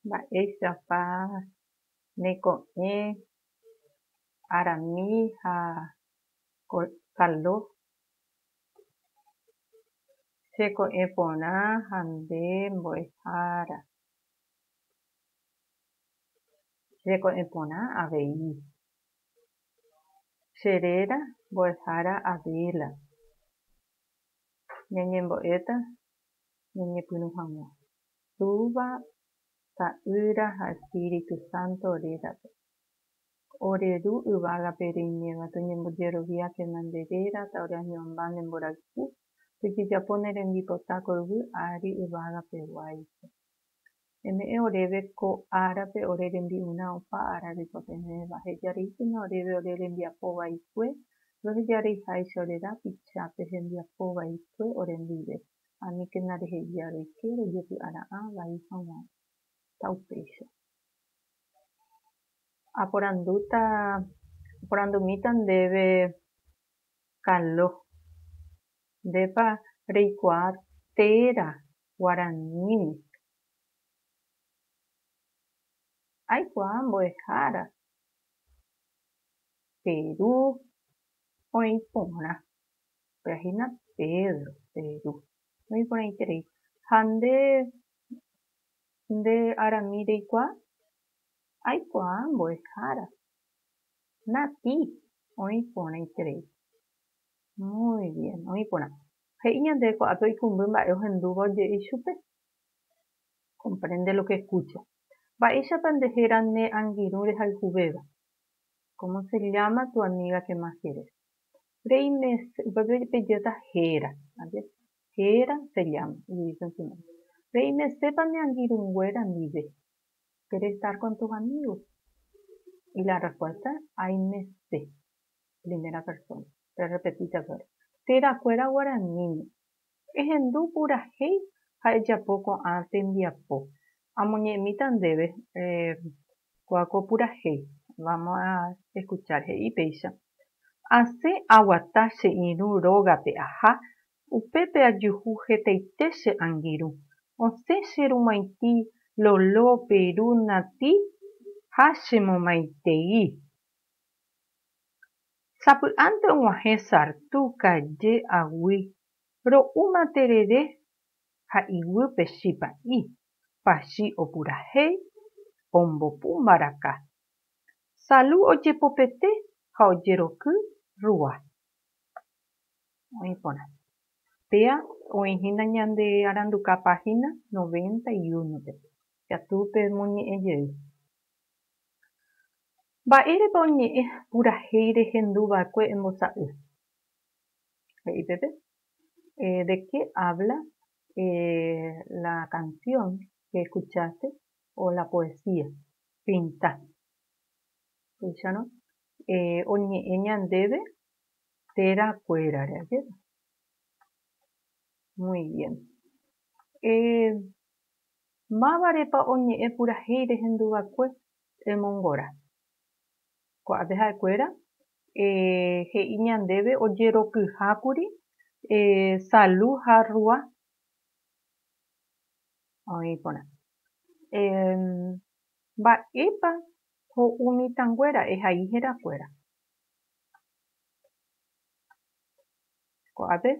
Mba'éichapa ne ko'ẽ Arami ha Caldo che ko'ẽ porã ha nde mbo'ehára che ko'ẽ porã avei, che réra mbo'ehára Abela, ñañembo'éta ñañepyrũ hag̃ua. Túva, Ta'ýra ha Espíritu Santo rérape. Ore Ru yvágape reiméva, toñembojeroviákena nde réra, taoreañuãmba ne mborayhu, tojejapo ne rembipota ko yvy ári yvágape guáicha. Neme'ẽ oréve ko árape ore rembi'urã opa ára reikuapevéva, heja reíkena oréve ore rembiapo vaikue, roheja reiháicha ore rapicha pe hembiapo vaikue ore ndive, aníkena reheja roike rojepy'ara'ã vai haguã. Ta upéicha. Aporandúta, aporandumíta ndéve Carlos, Ndépa reikuaa téra Guaraníme. Aikuaa mbo'ehára Peru oĩ porã. Opera hína Pedro, Peru. Oĩ porãiterei. Ha nde, nde arami reikuaa? Aikuaa mbo'ehára. Nati, oĩ porãiterei. Muy bien, oĩ porã. He'i ñande kuaápe oikũmby mba'e ohendúva oje'i chupe. Comprende lo que escucha. Mba'éichapa nde héra ne angirũ rehayhuvéva. Cómo se llama tu amiga que más quieres. Rei mes, upépe pejéta héra. Ayer. Héra, se llama. Y dice en su nombre. Rei mesépa ne angirũnguéra ndive. Quieres estar con tus amigos. Y la respuesta es, ay mese. Primera persona. Rerrepetita guare. Térã kuéra guaraníme. Ehendu purahéi ha ejapo ko'ã tembiapo. Amoñe'ẽmíta ndéve kua ko purahéi. Vamos a escuchar he'i péicha. Asẽ aguata che irũ rógape aha, upépe ajuhu hetaite che angirũ. Osẽ che rumaiti lolo pe ru nati ha che momaitei. Sapy'ánte og̃uahẽ sartu kaje aguy ro'úma terere ha iguýpe chipa'i pachi opurahéi ombopu mbaraka. Salu ojepopete ha ojeroky rúa. Oĩ porã. Péa oĩ hína ñande aranduka páhina noventa y uno-pe. Ikatu pemoñe'ẽ jey. Mba'érepa oñe'ẽ purahéi rehendu va'ekue embosa'y? He'i peve, De qué habla la canción que escuchaste o la poesía? Pinta. Upéicharõ oñe'ẽ ñandéve téra kuérare, ajépa. Muy bien. Mávarepa oñe'ẽ purahéi rehendu va'ekue Temongora. Ko'ápe ha'ekuéra he'i ñandéve ojerokyhákuri Salu ha Rua. Oĩ porã. Mba'épa ho'u mitãnguéra ehai herakuéra? Ko'ápe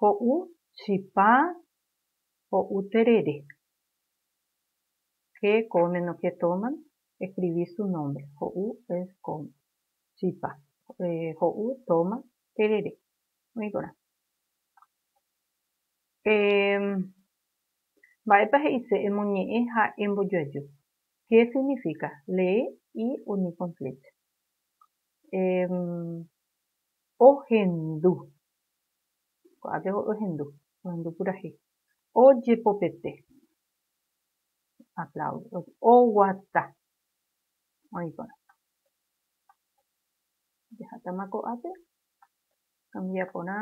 ho'u chipa. Ho'u terere. Che come no che toman, escribí su nombre. Ho'u es come. Chipa. Ho'u, toma, terere. Oĩ porã. Emm. Mba'épa he'ise emoñe'ẽ ha embojoaju? Qué significa? Lee y uní con flecha. Emm. Ohendu. Ko'ápe ohendu, ohendu purahéi. Ojepopete. Aplaude. Oguata. Oĩ porã. Jahatama ko'ápe. Kambia porã.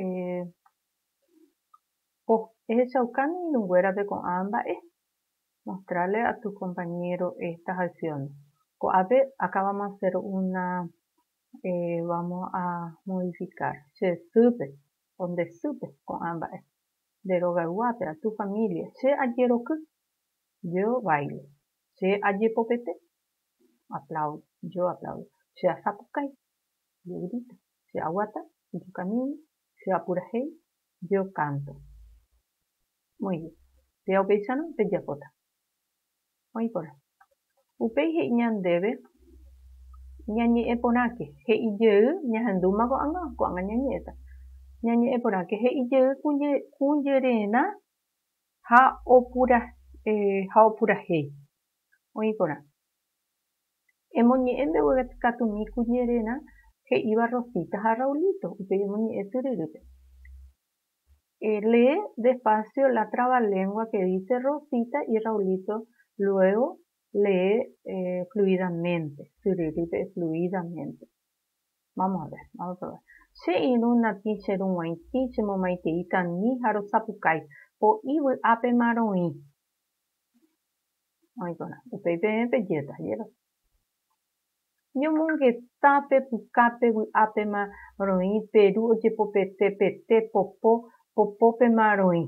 Eh, oh, ehechaukáne irũnguérape ko'ã mba'e. Mostrarle a tu compañero estas acciones. Ko'ápe acabamos de hacer una vamos a modificar che sýpe o nde sýpe ko'ã mba'e. Nde rogayguápe a tu familia che ajeroky, yo bailo. Che ajepopete, aplaudo, yo aplaudo. Che asapukái, yo grito. Che aguata, yo camino. Che apurahéi, yo canto. Moĩri, Péva upéicharõ pejapóta. Oĩporã. Upéi he'i ñandéve ñañe'ẽ porãke, he'i jey, ñahendúma ko'ág̃a, ko'ág̃a ñañe'ẽta. Ñañe'ẽ porãke, he'i jey kũjererã ha opurahéi. Oĩporã. Emoñe'ẽ mbegue katumi kũjererã he'íva Rosita ha Raulito, upéi emoñe'ẽ tyryrýpe. Lee despacio la trabalengua que dice Rosita y Raulito luego lee fluidamente, syryrýpe fluidamente. Vamos a ver, vamos a probar. Che irũ natĩ che ru g̃uaitĩ, che momaitei tanĩ ha rosapukái. Po'i vy'ápema roĩ. Oĩporã. Upéi peẽ pe jeta, jérasa. Ñomongeta pe pukápe vy'ápema roĩ pe ru ojepopete pete popo, popópema roĩ.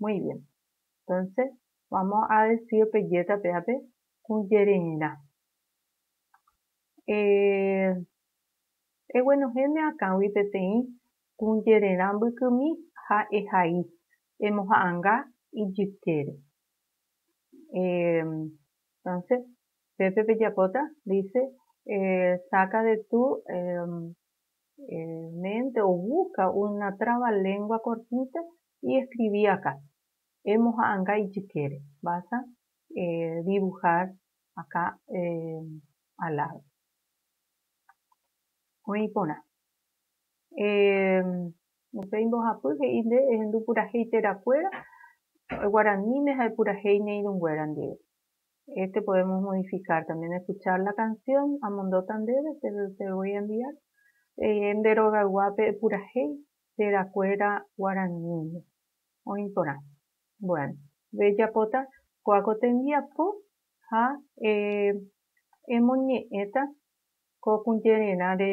Muy bien. Entonces, vamos a decir pe jéta pe ápe, Kũjererã. Eh, eguenohẽne akãgui peteĩ kũjererã mbykymi ha ehai, emoha'ãnga ijykére. Eh, Entonce pépe pejapóta dice saca de tu mente o busca una trabalengua cortita y escribí acá. Emoha'ãnga ijykére. Vas a dibujar acá al lado. Oĩ porã. Upéi mbohapy he'i nde ehendu purahéi térã kuéra guaraníme ha epurahéi ne irũ nguéra ndive. Este podemos modificar también escuchar la canción amondóta ndéve te lo voy a enviar eh nde rogayguápe epurahéi térã kuéra guaraníme oĩ porã. Bueno. Rejapóta kóa ko tembiapo ha eh emoñe'ẽta ko kujererã re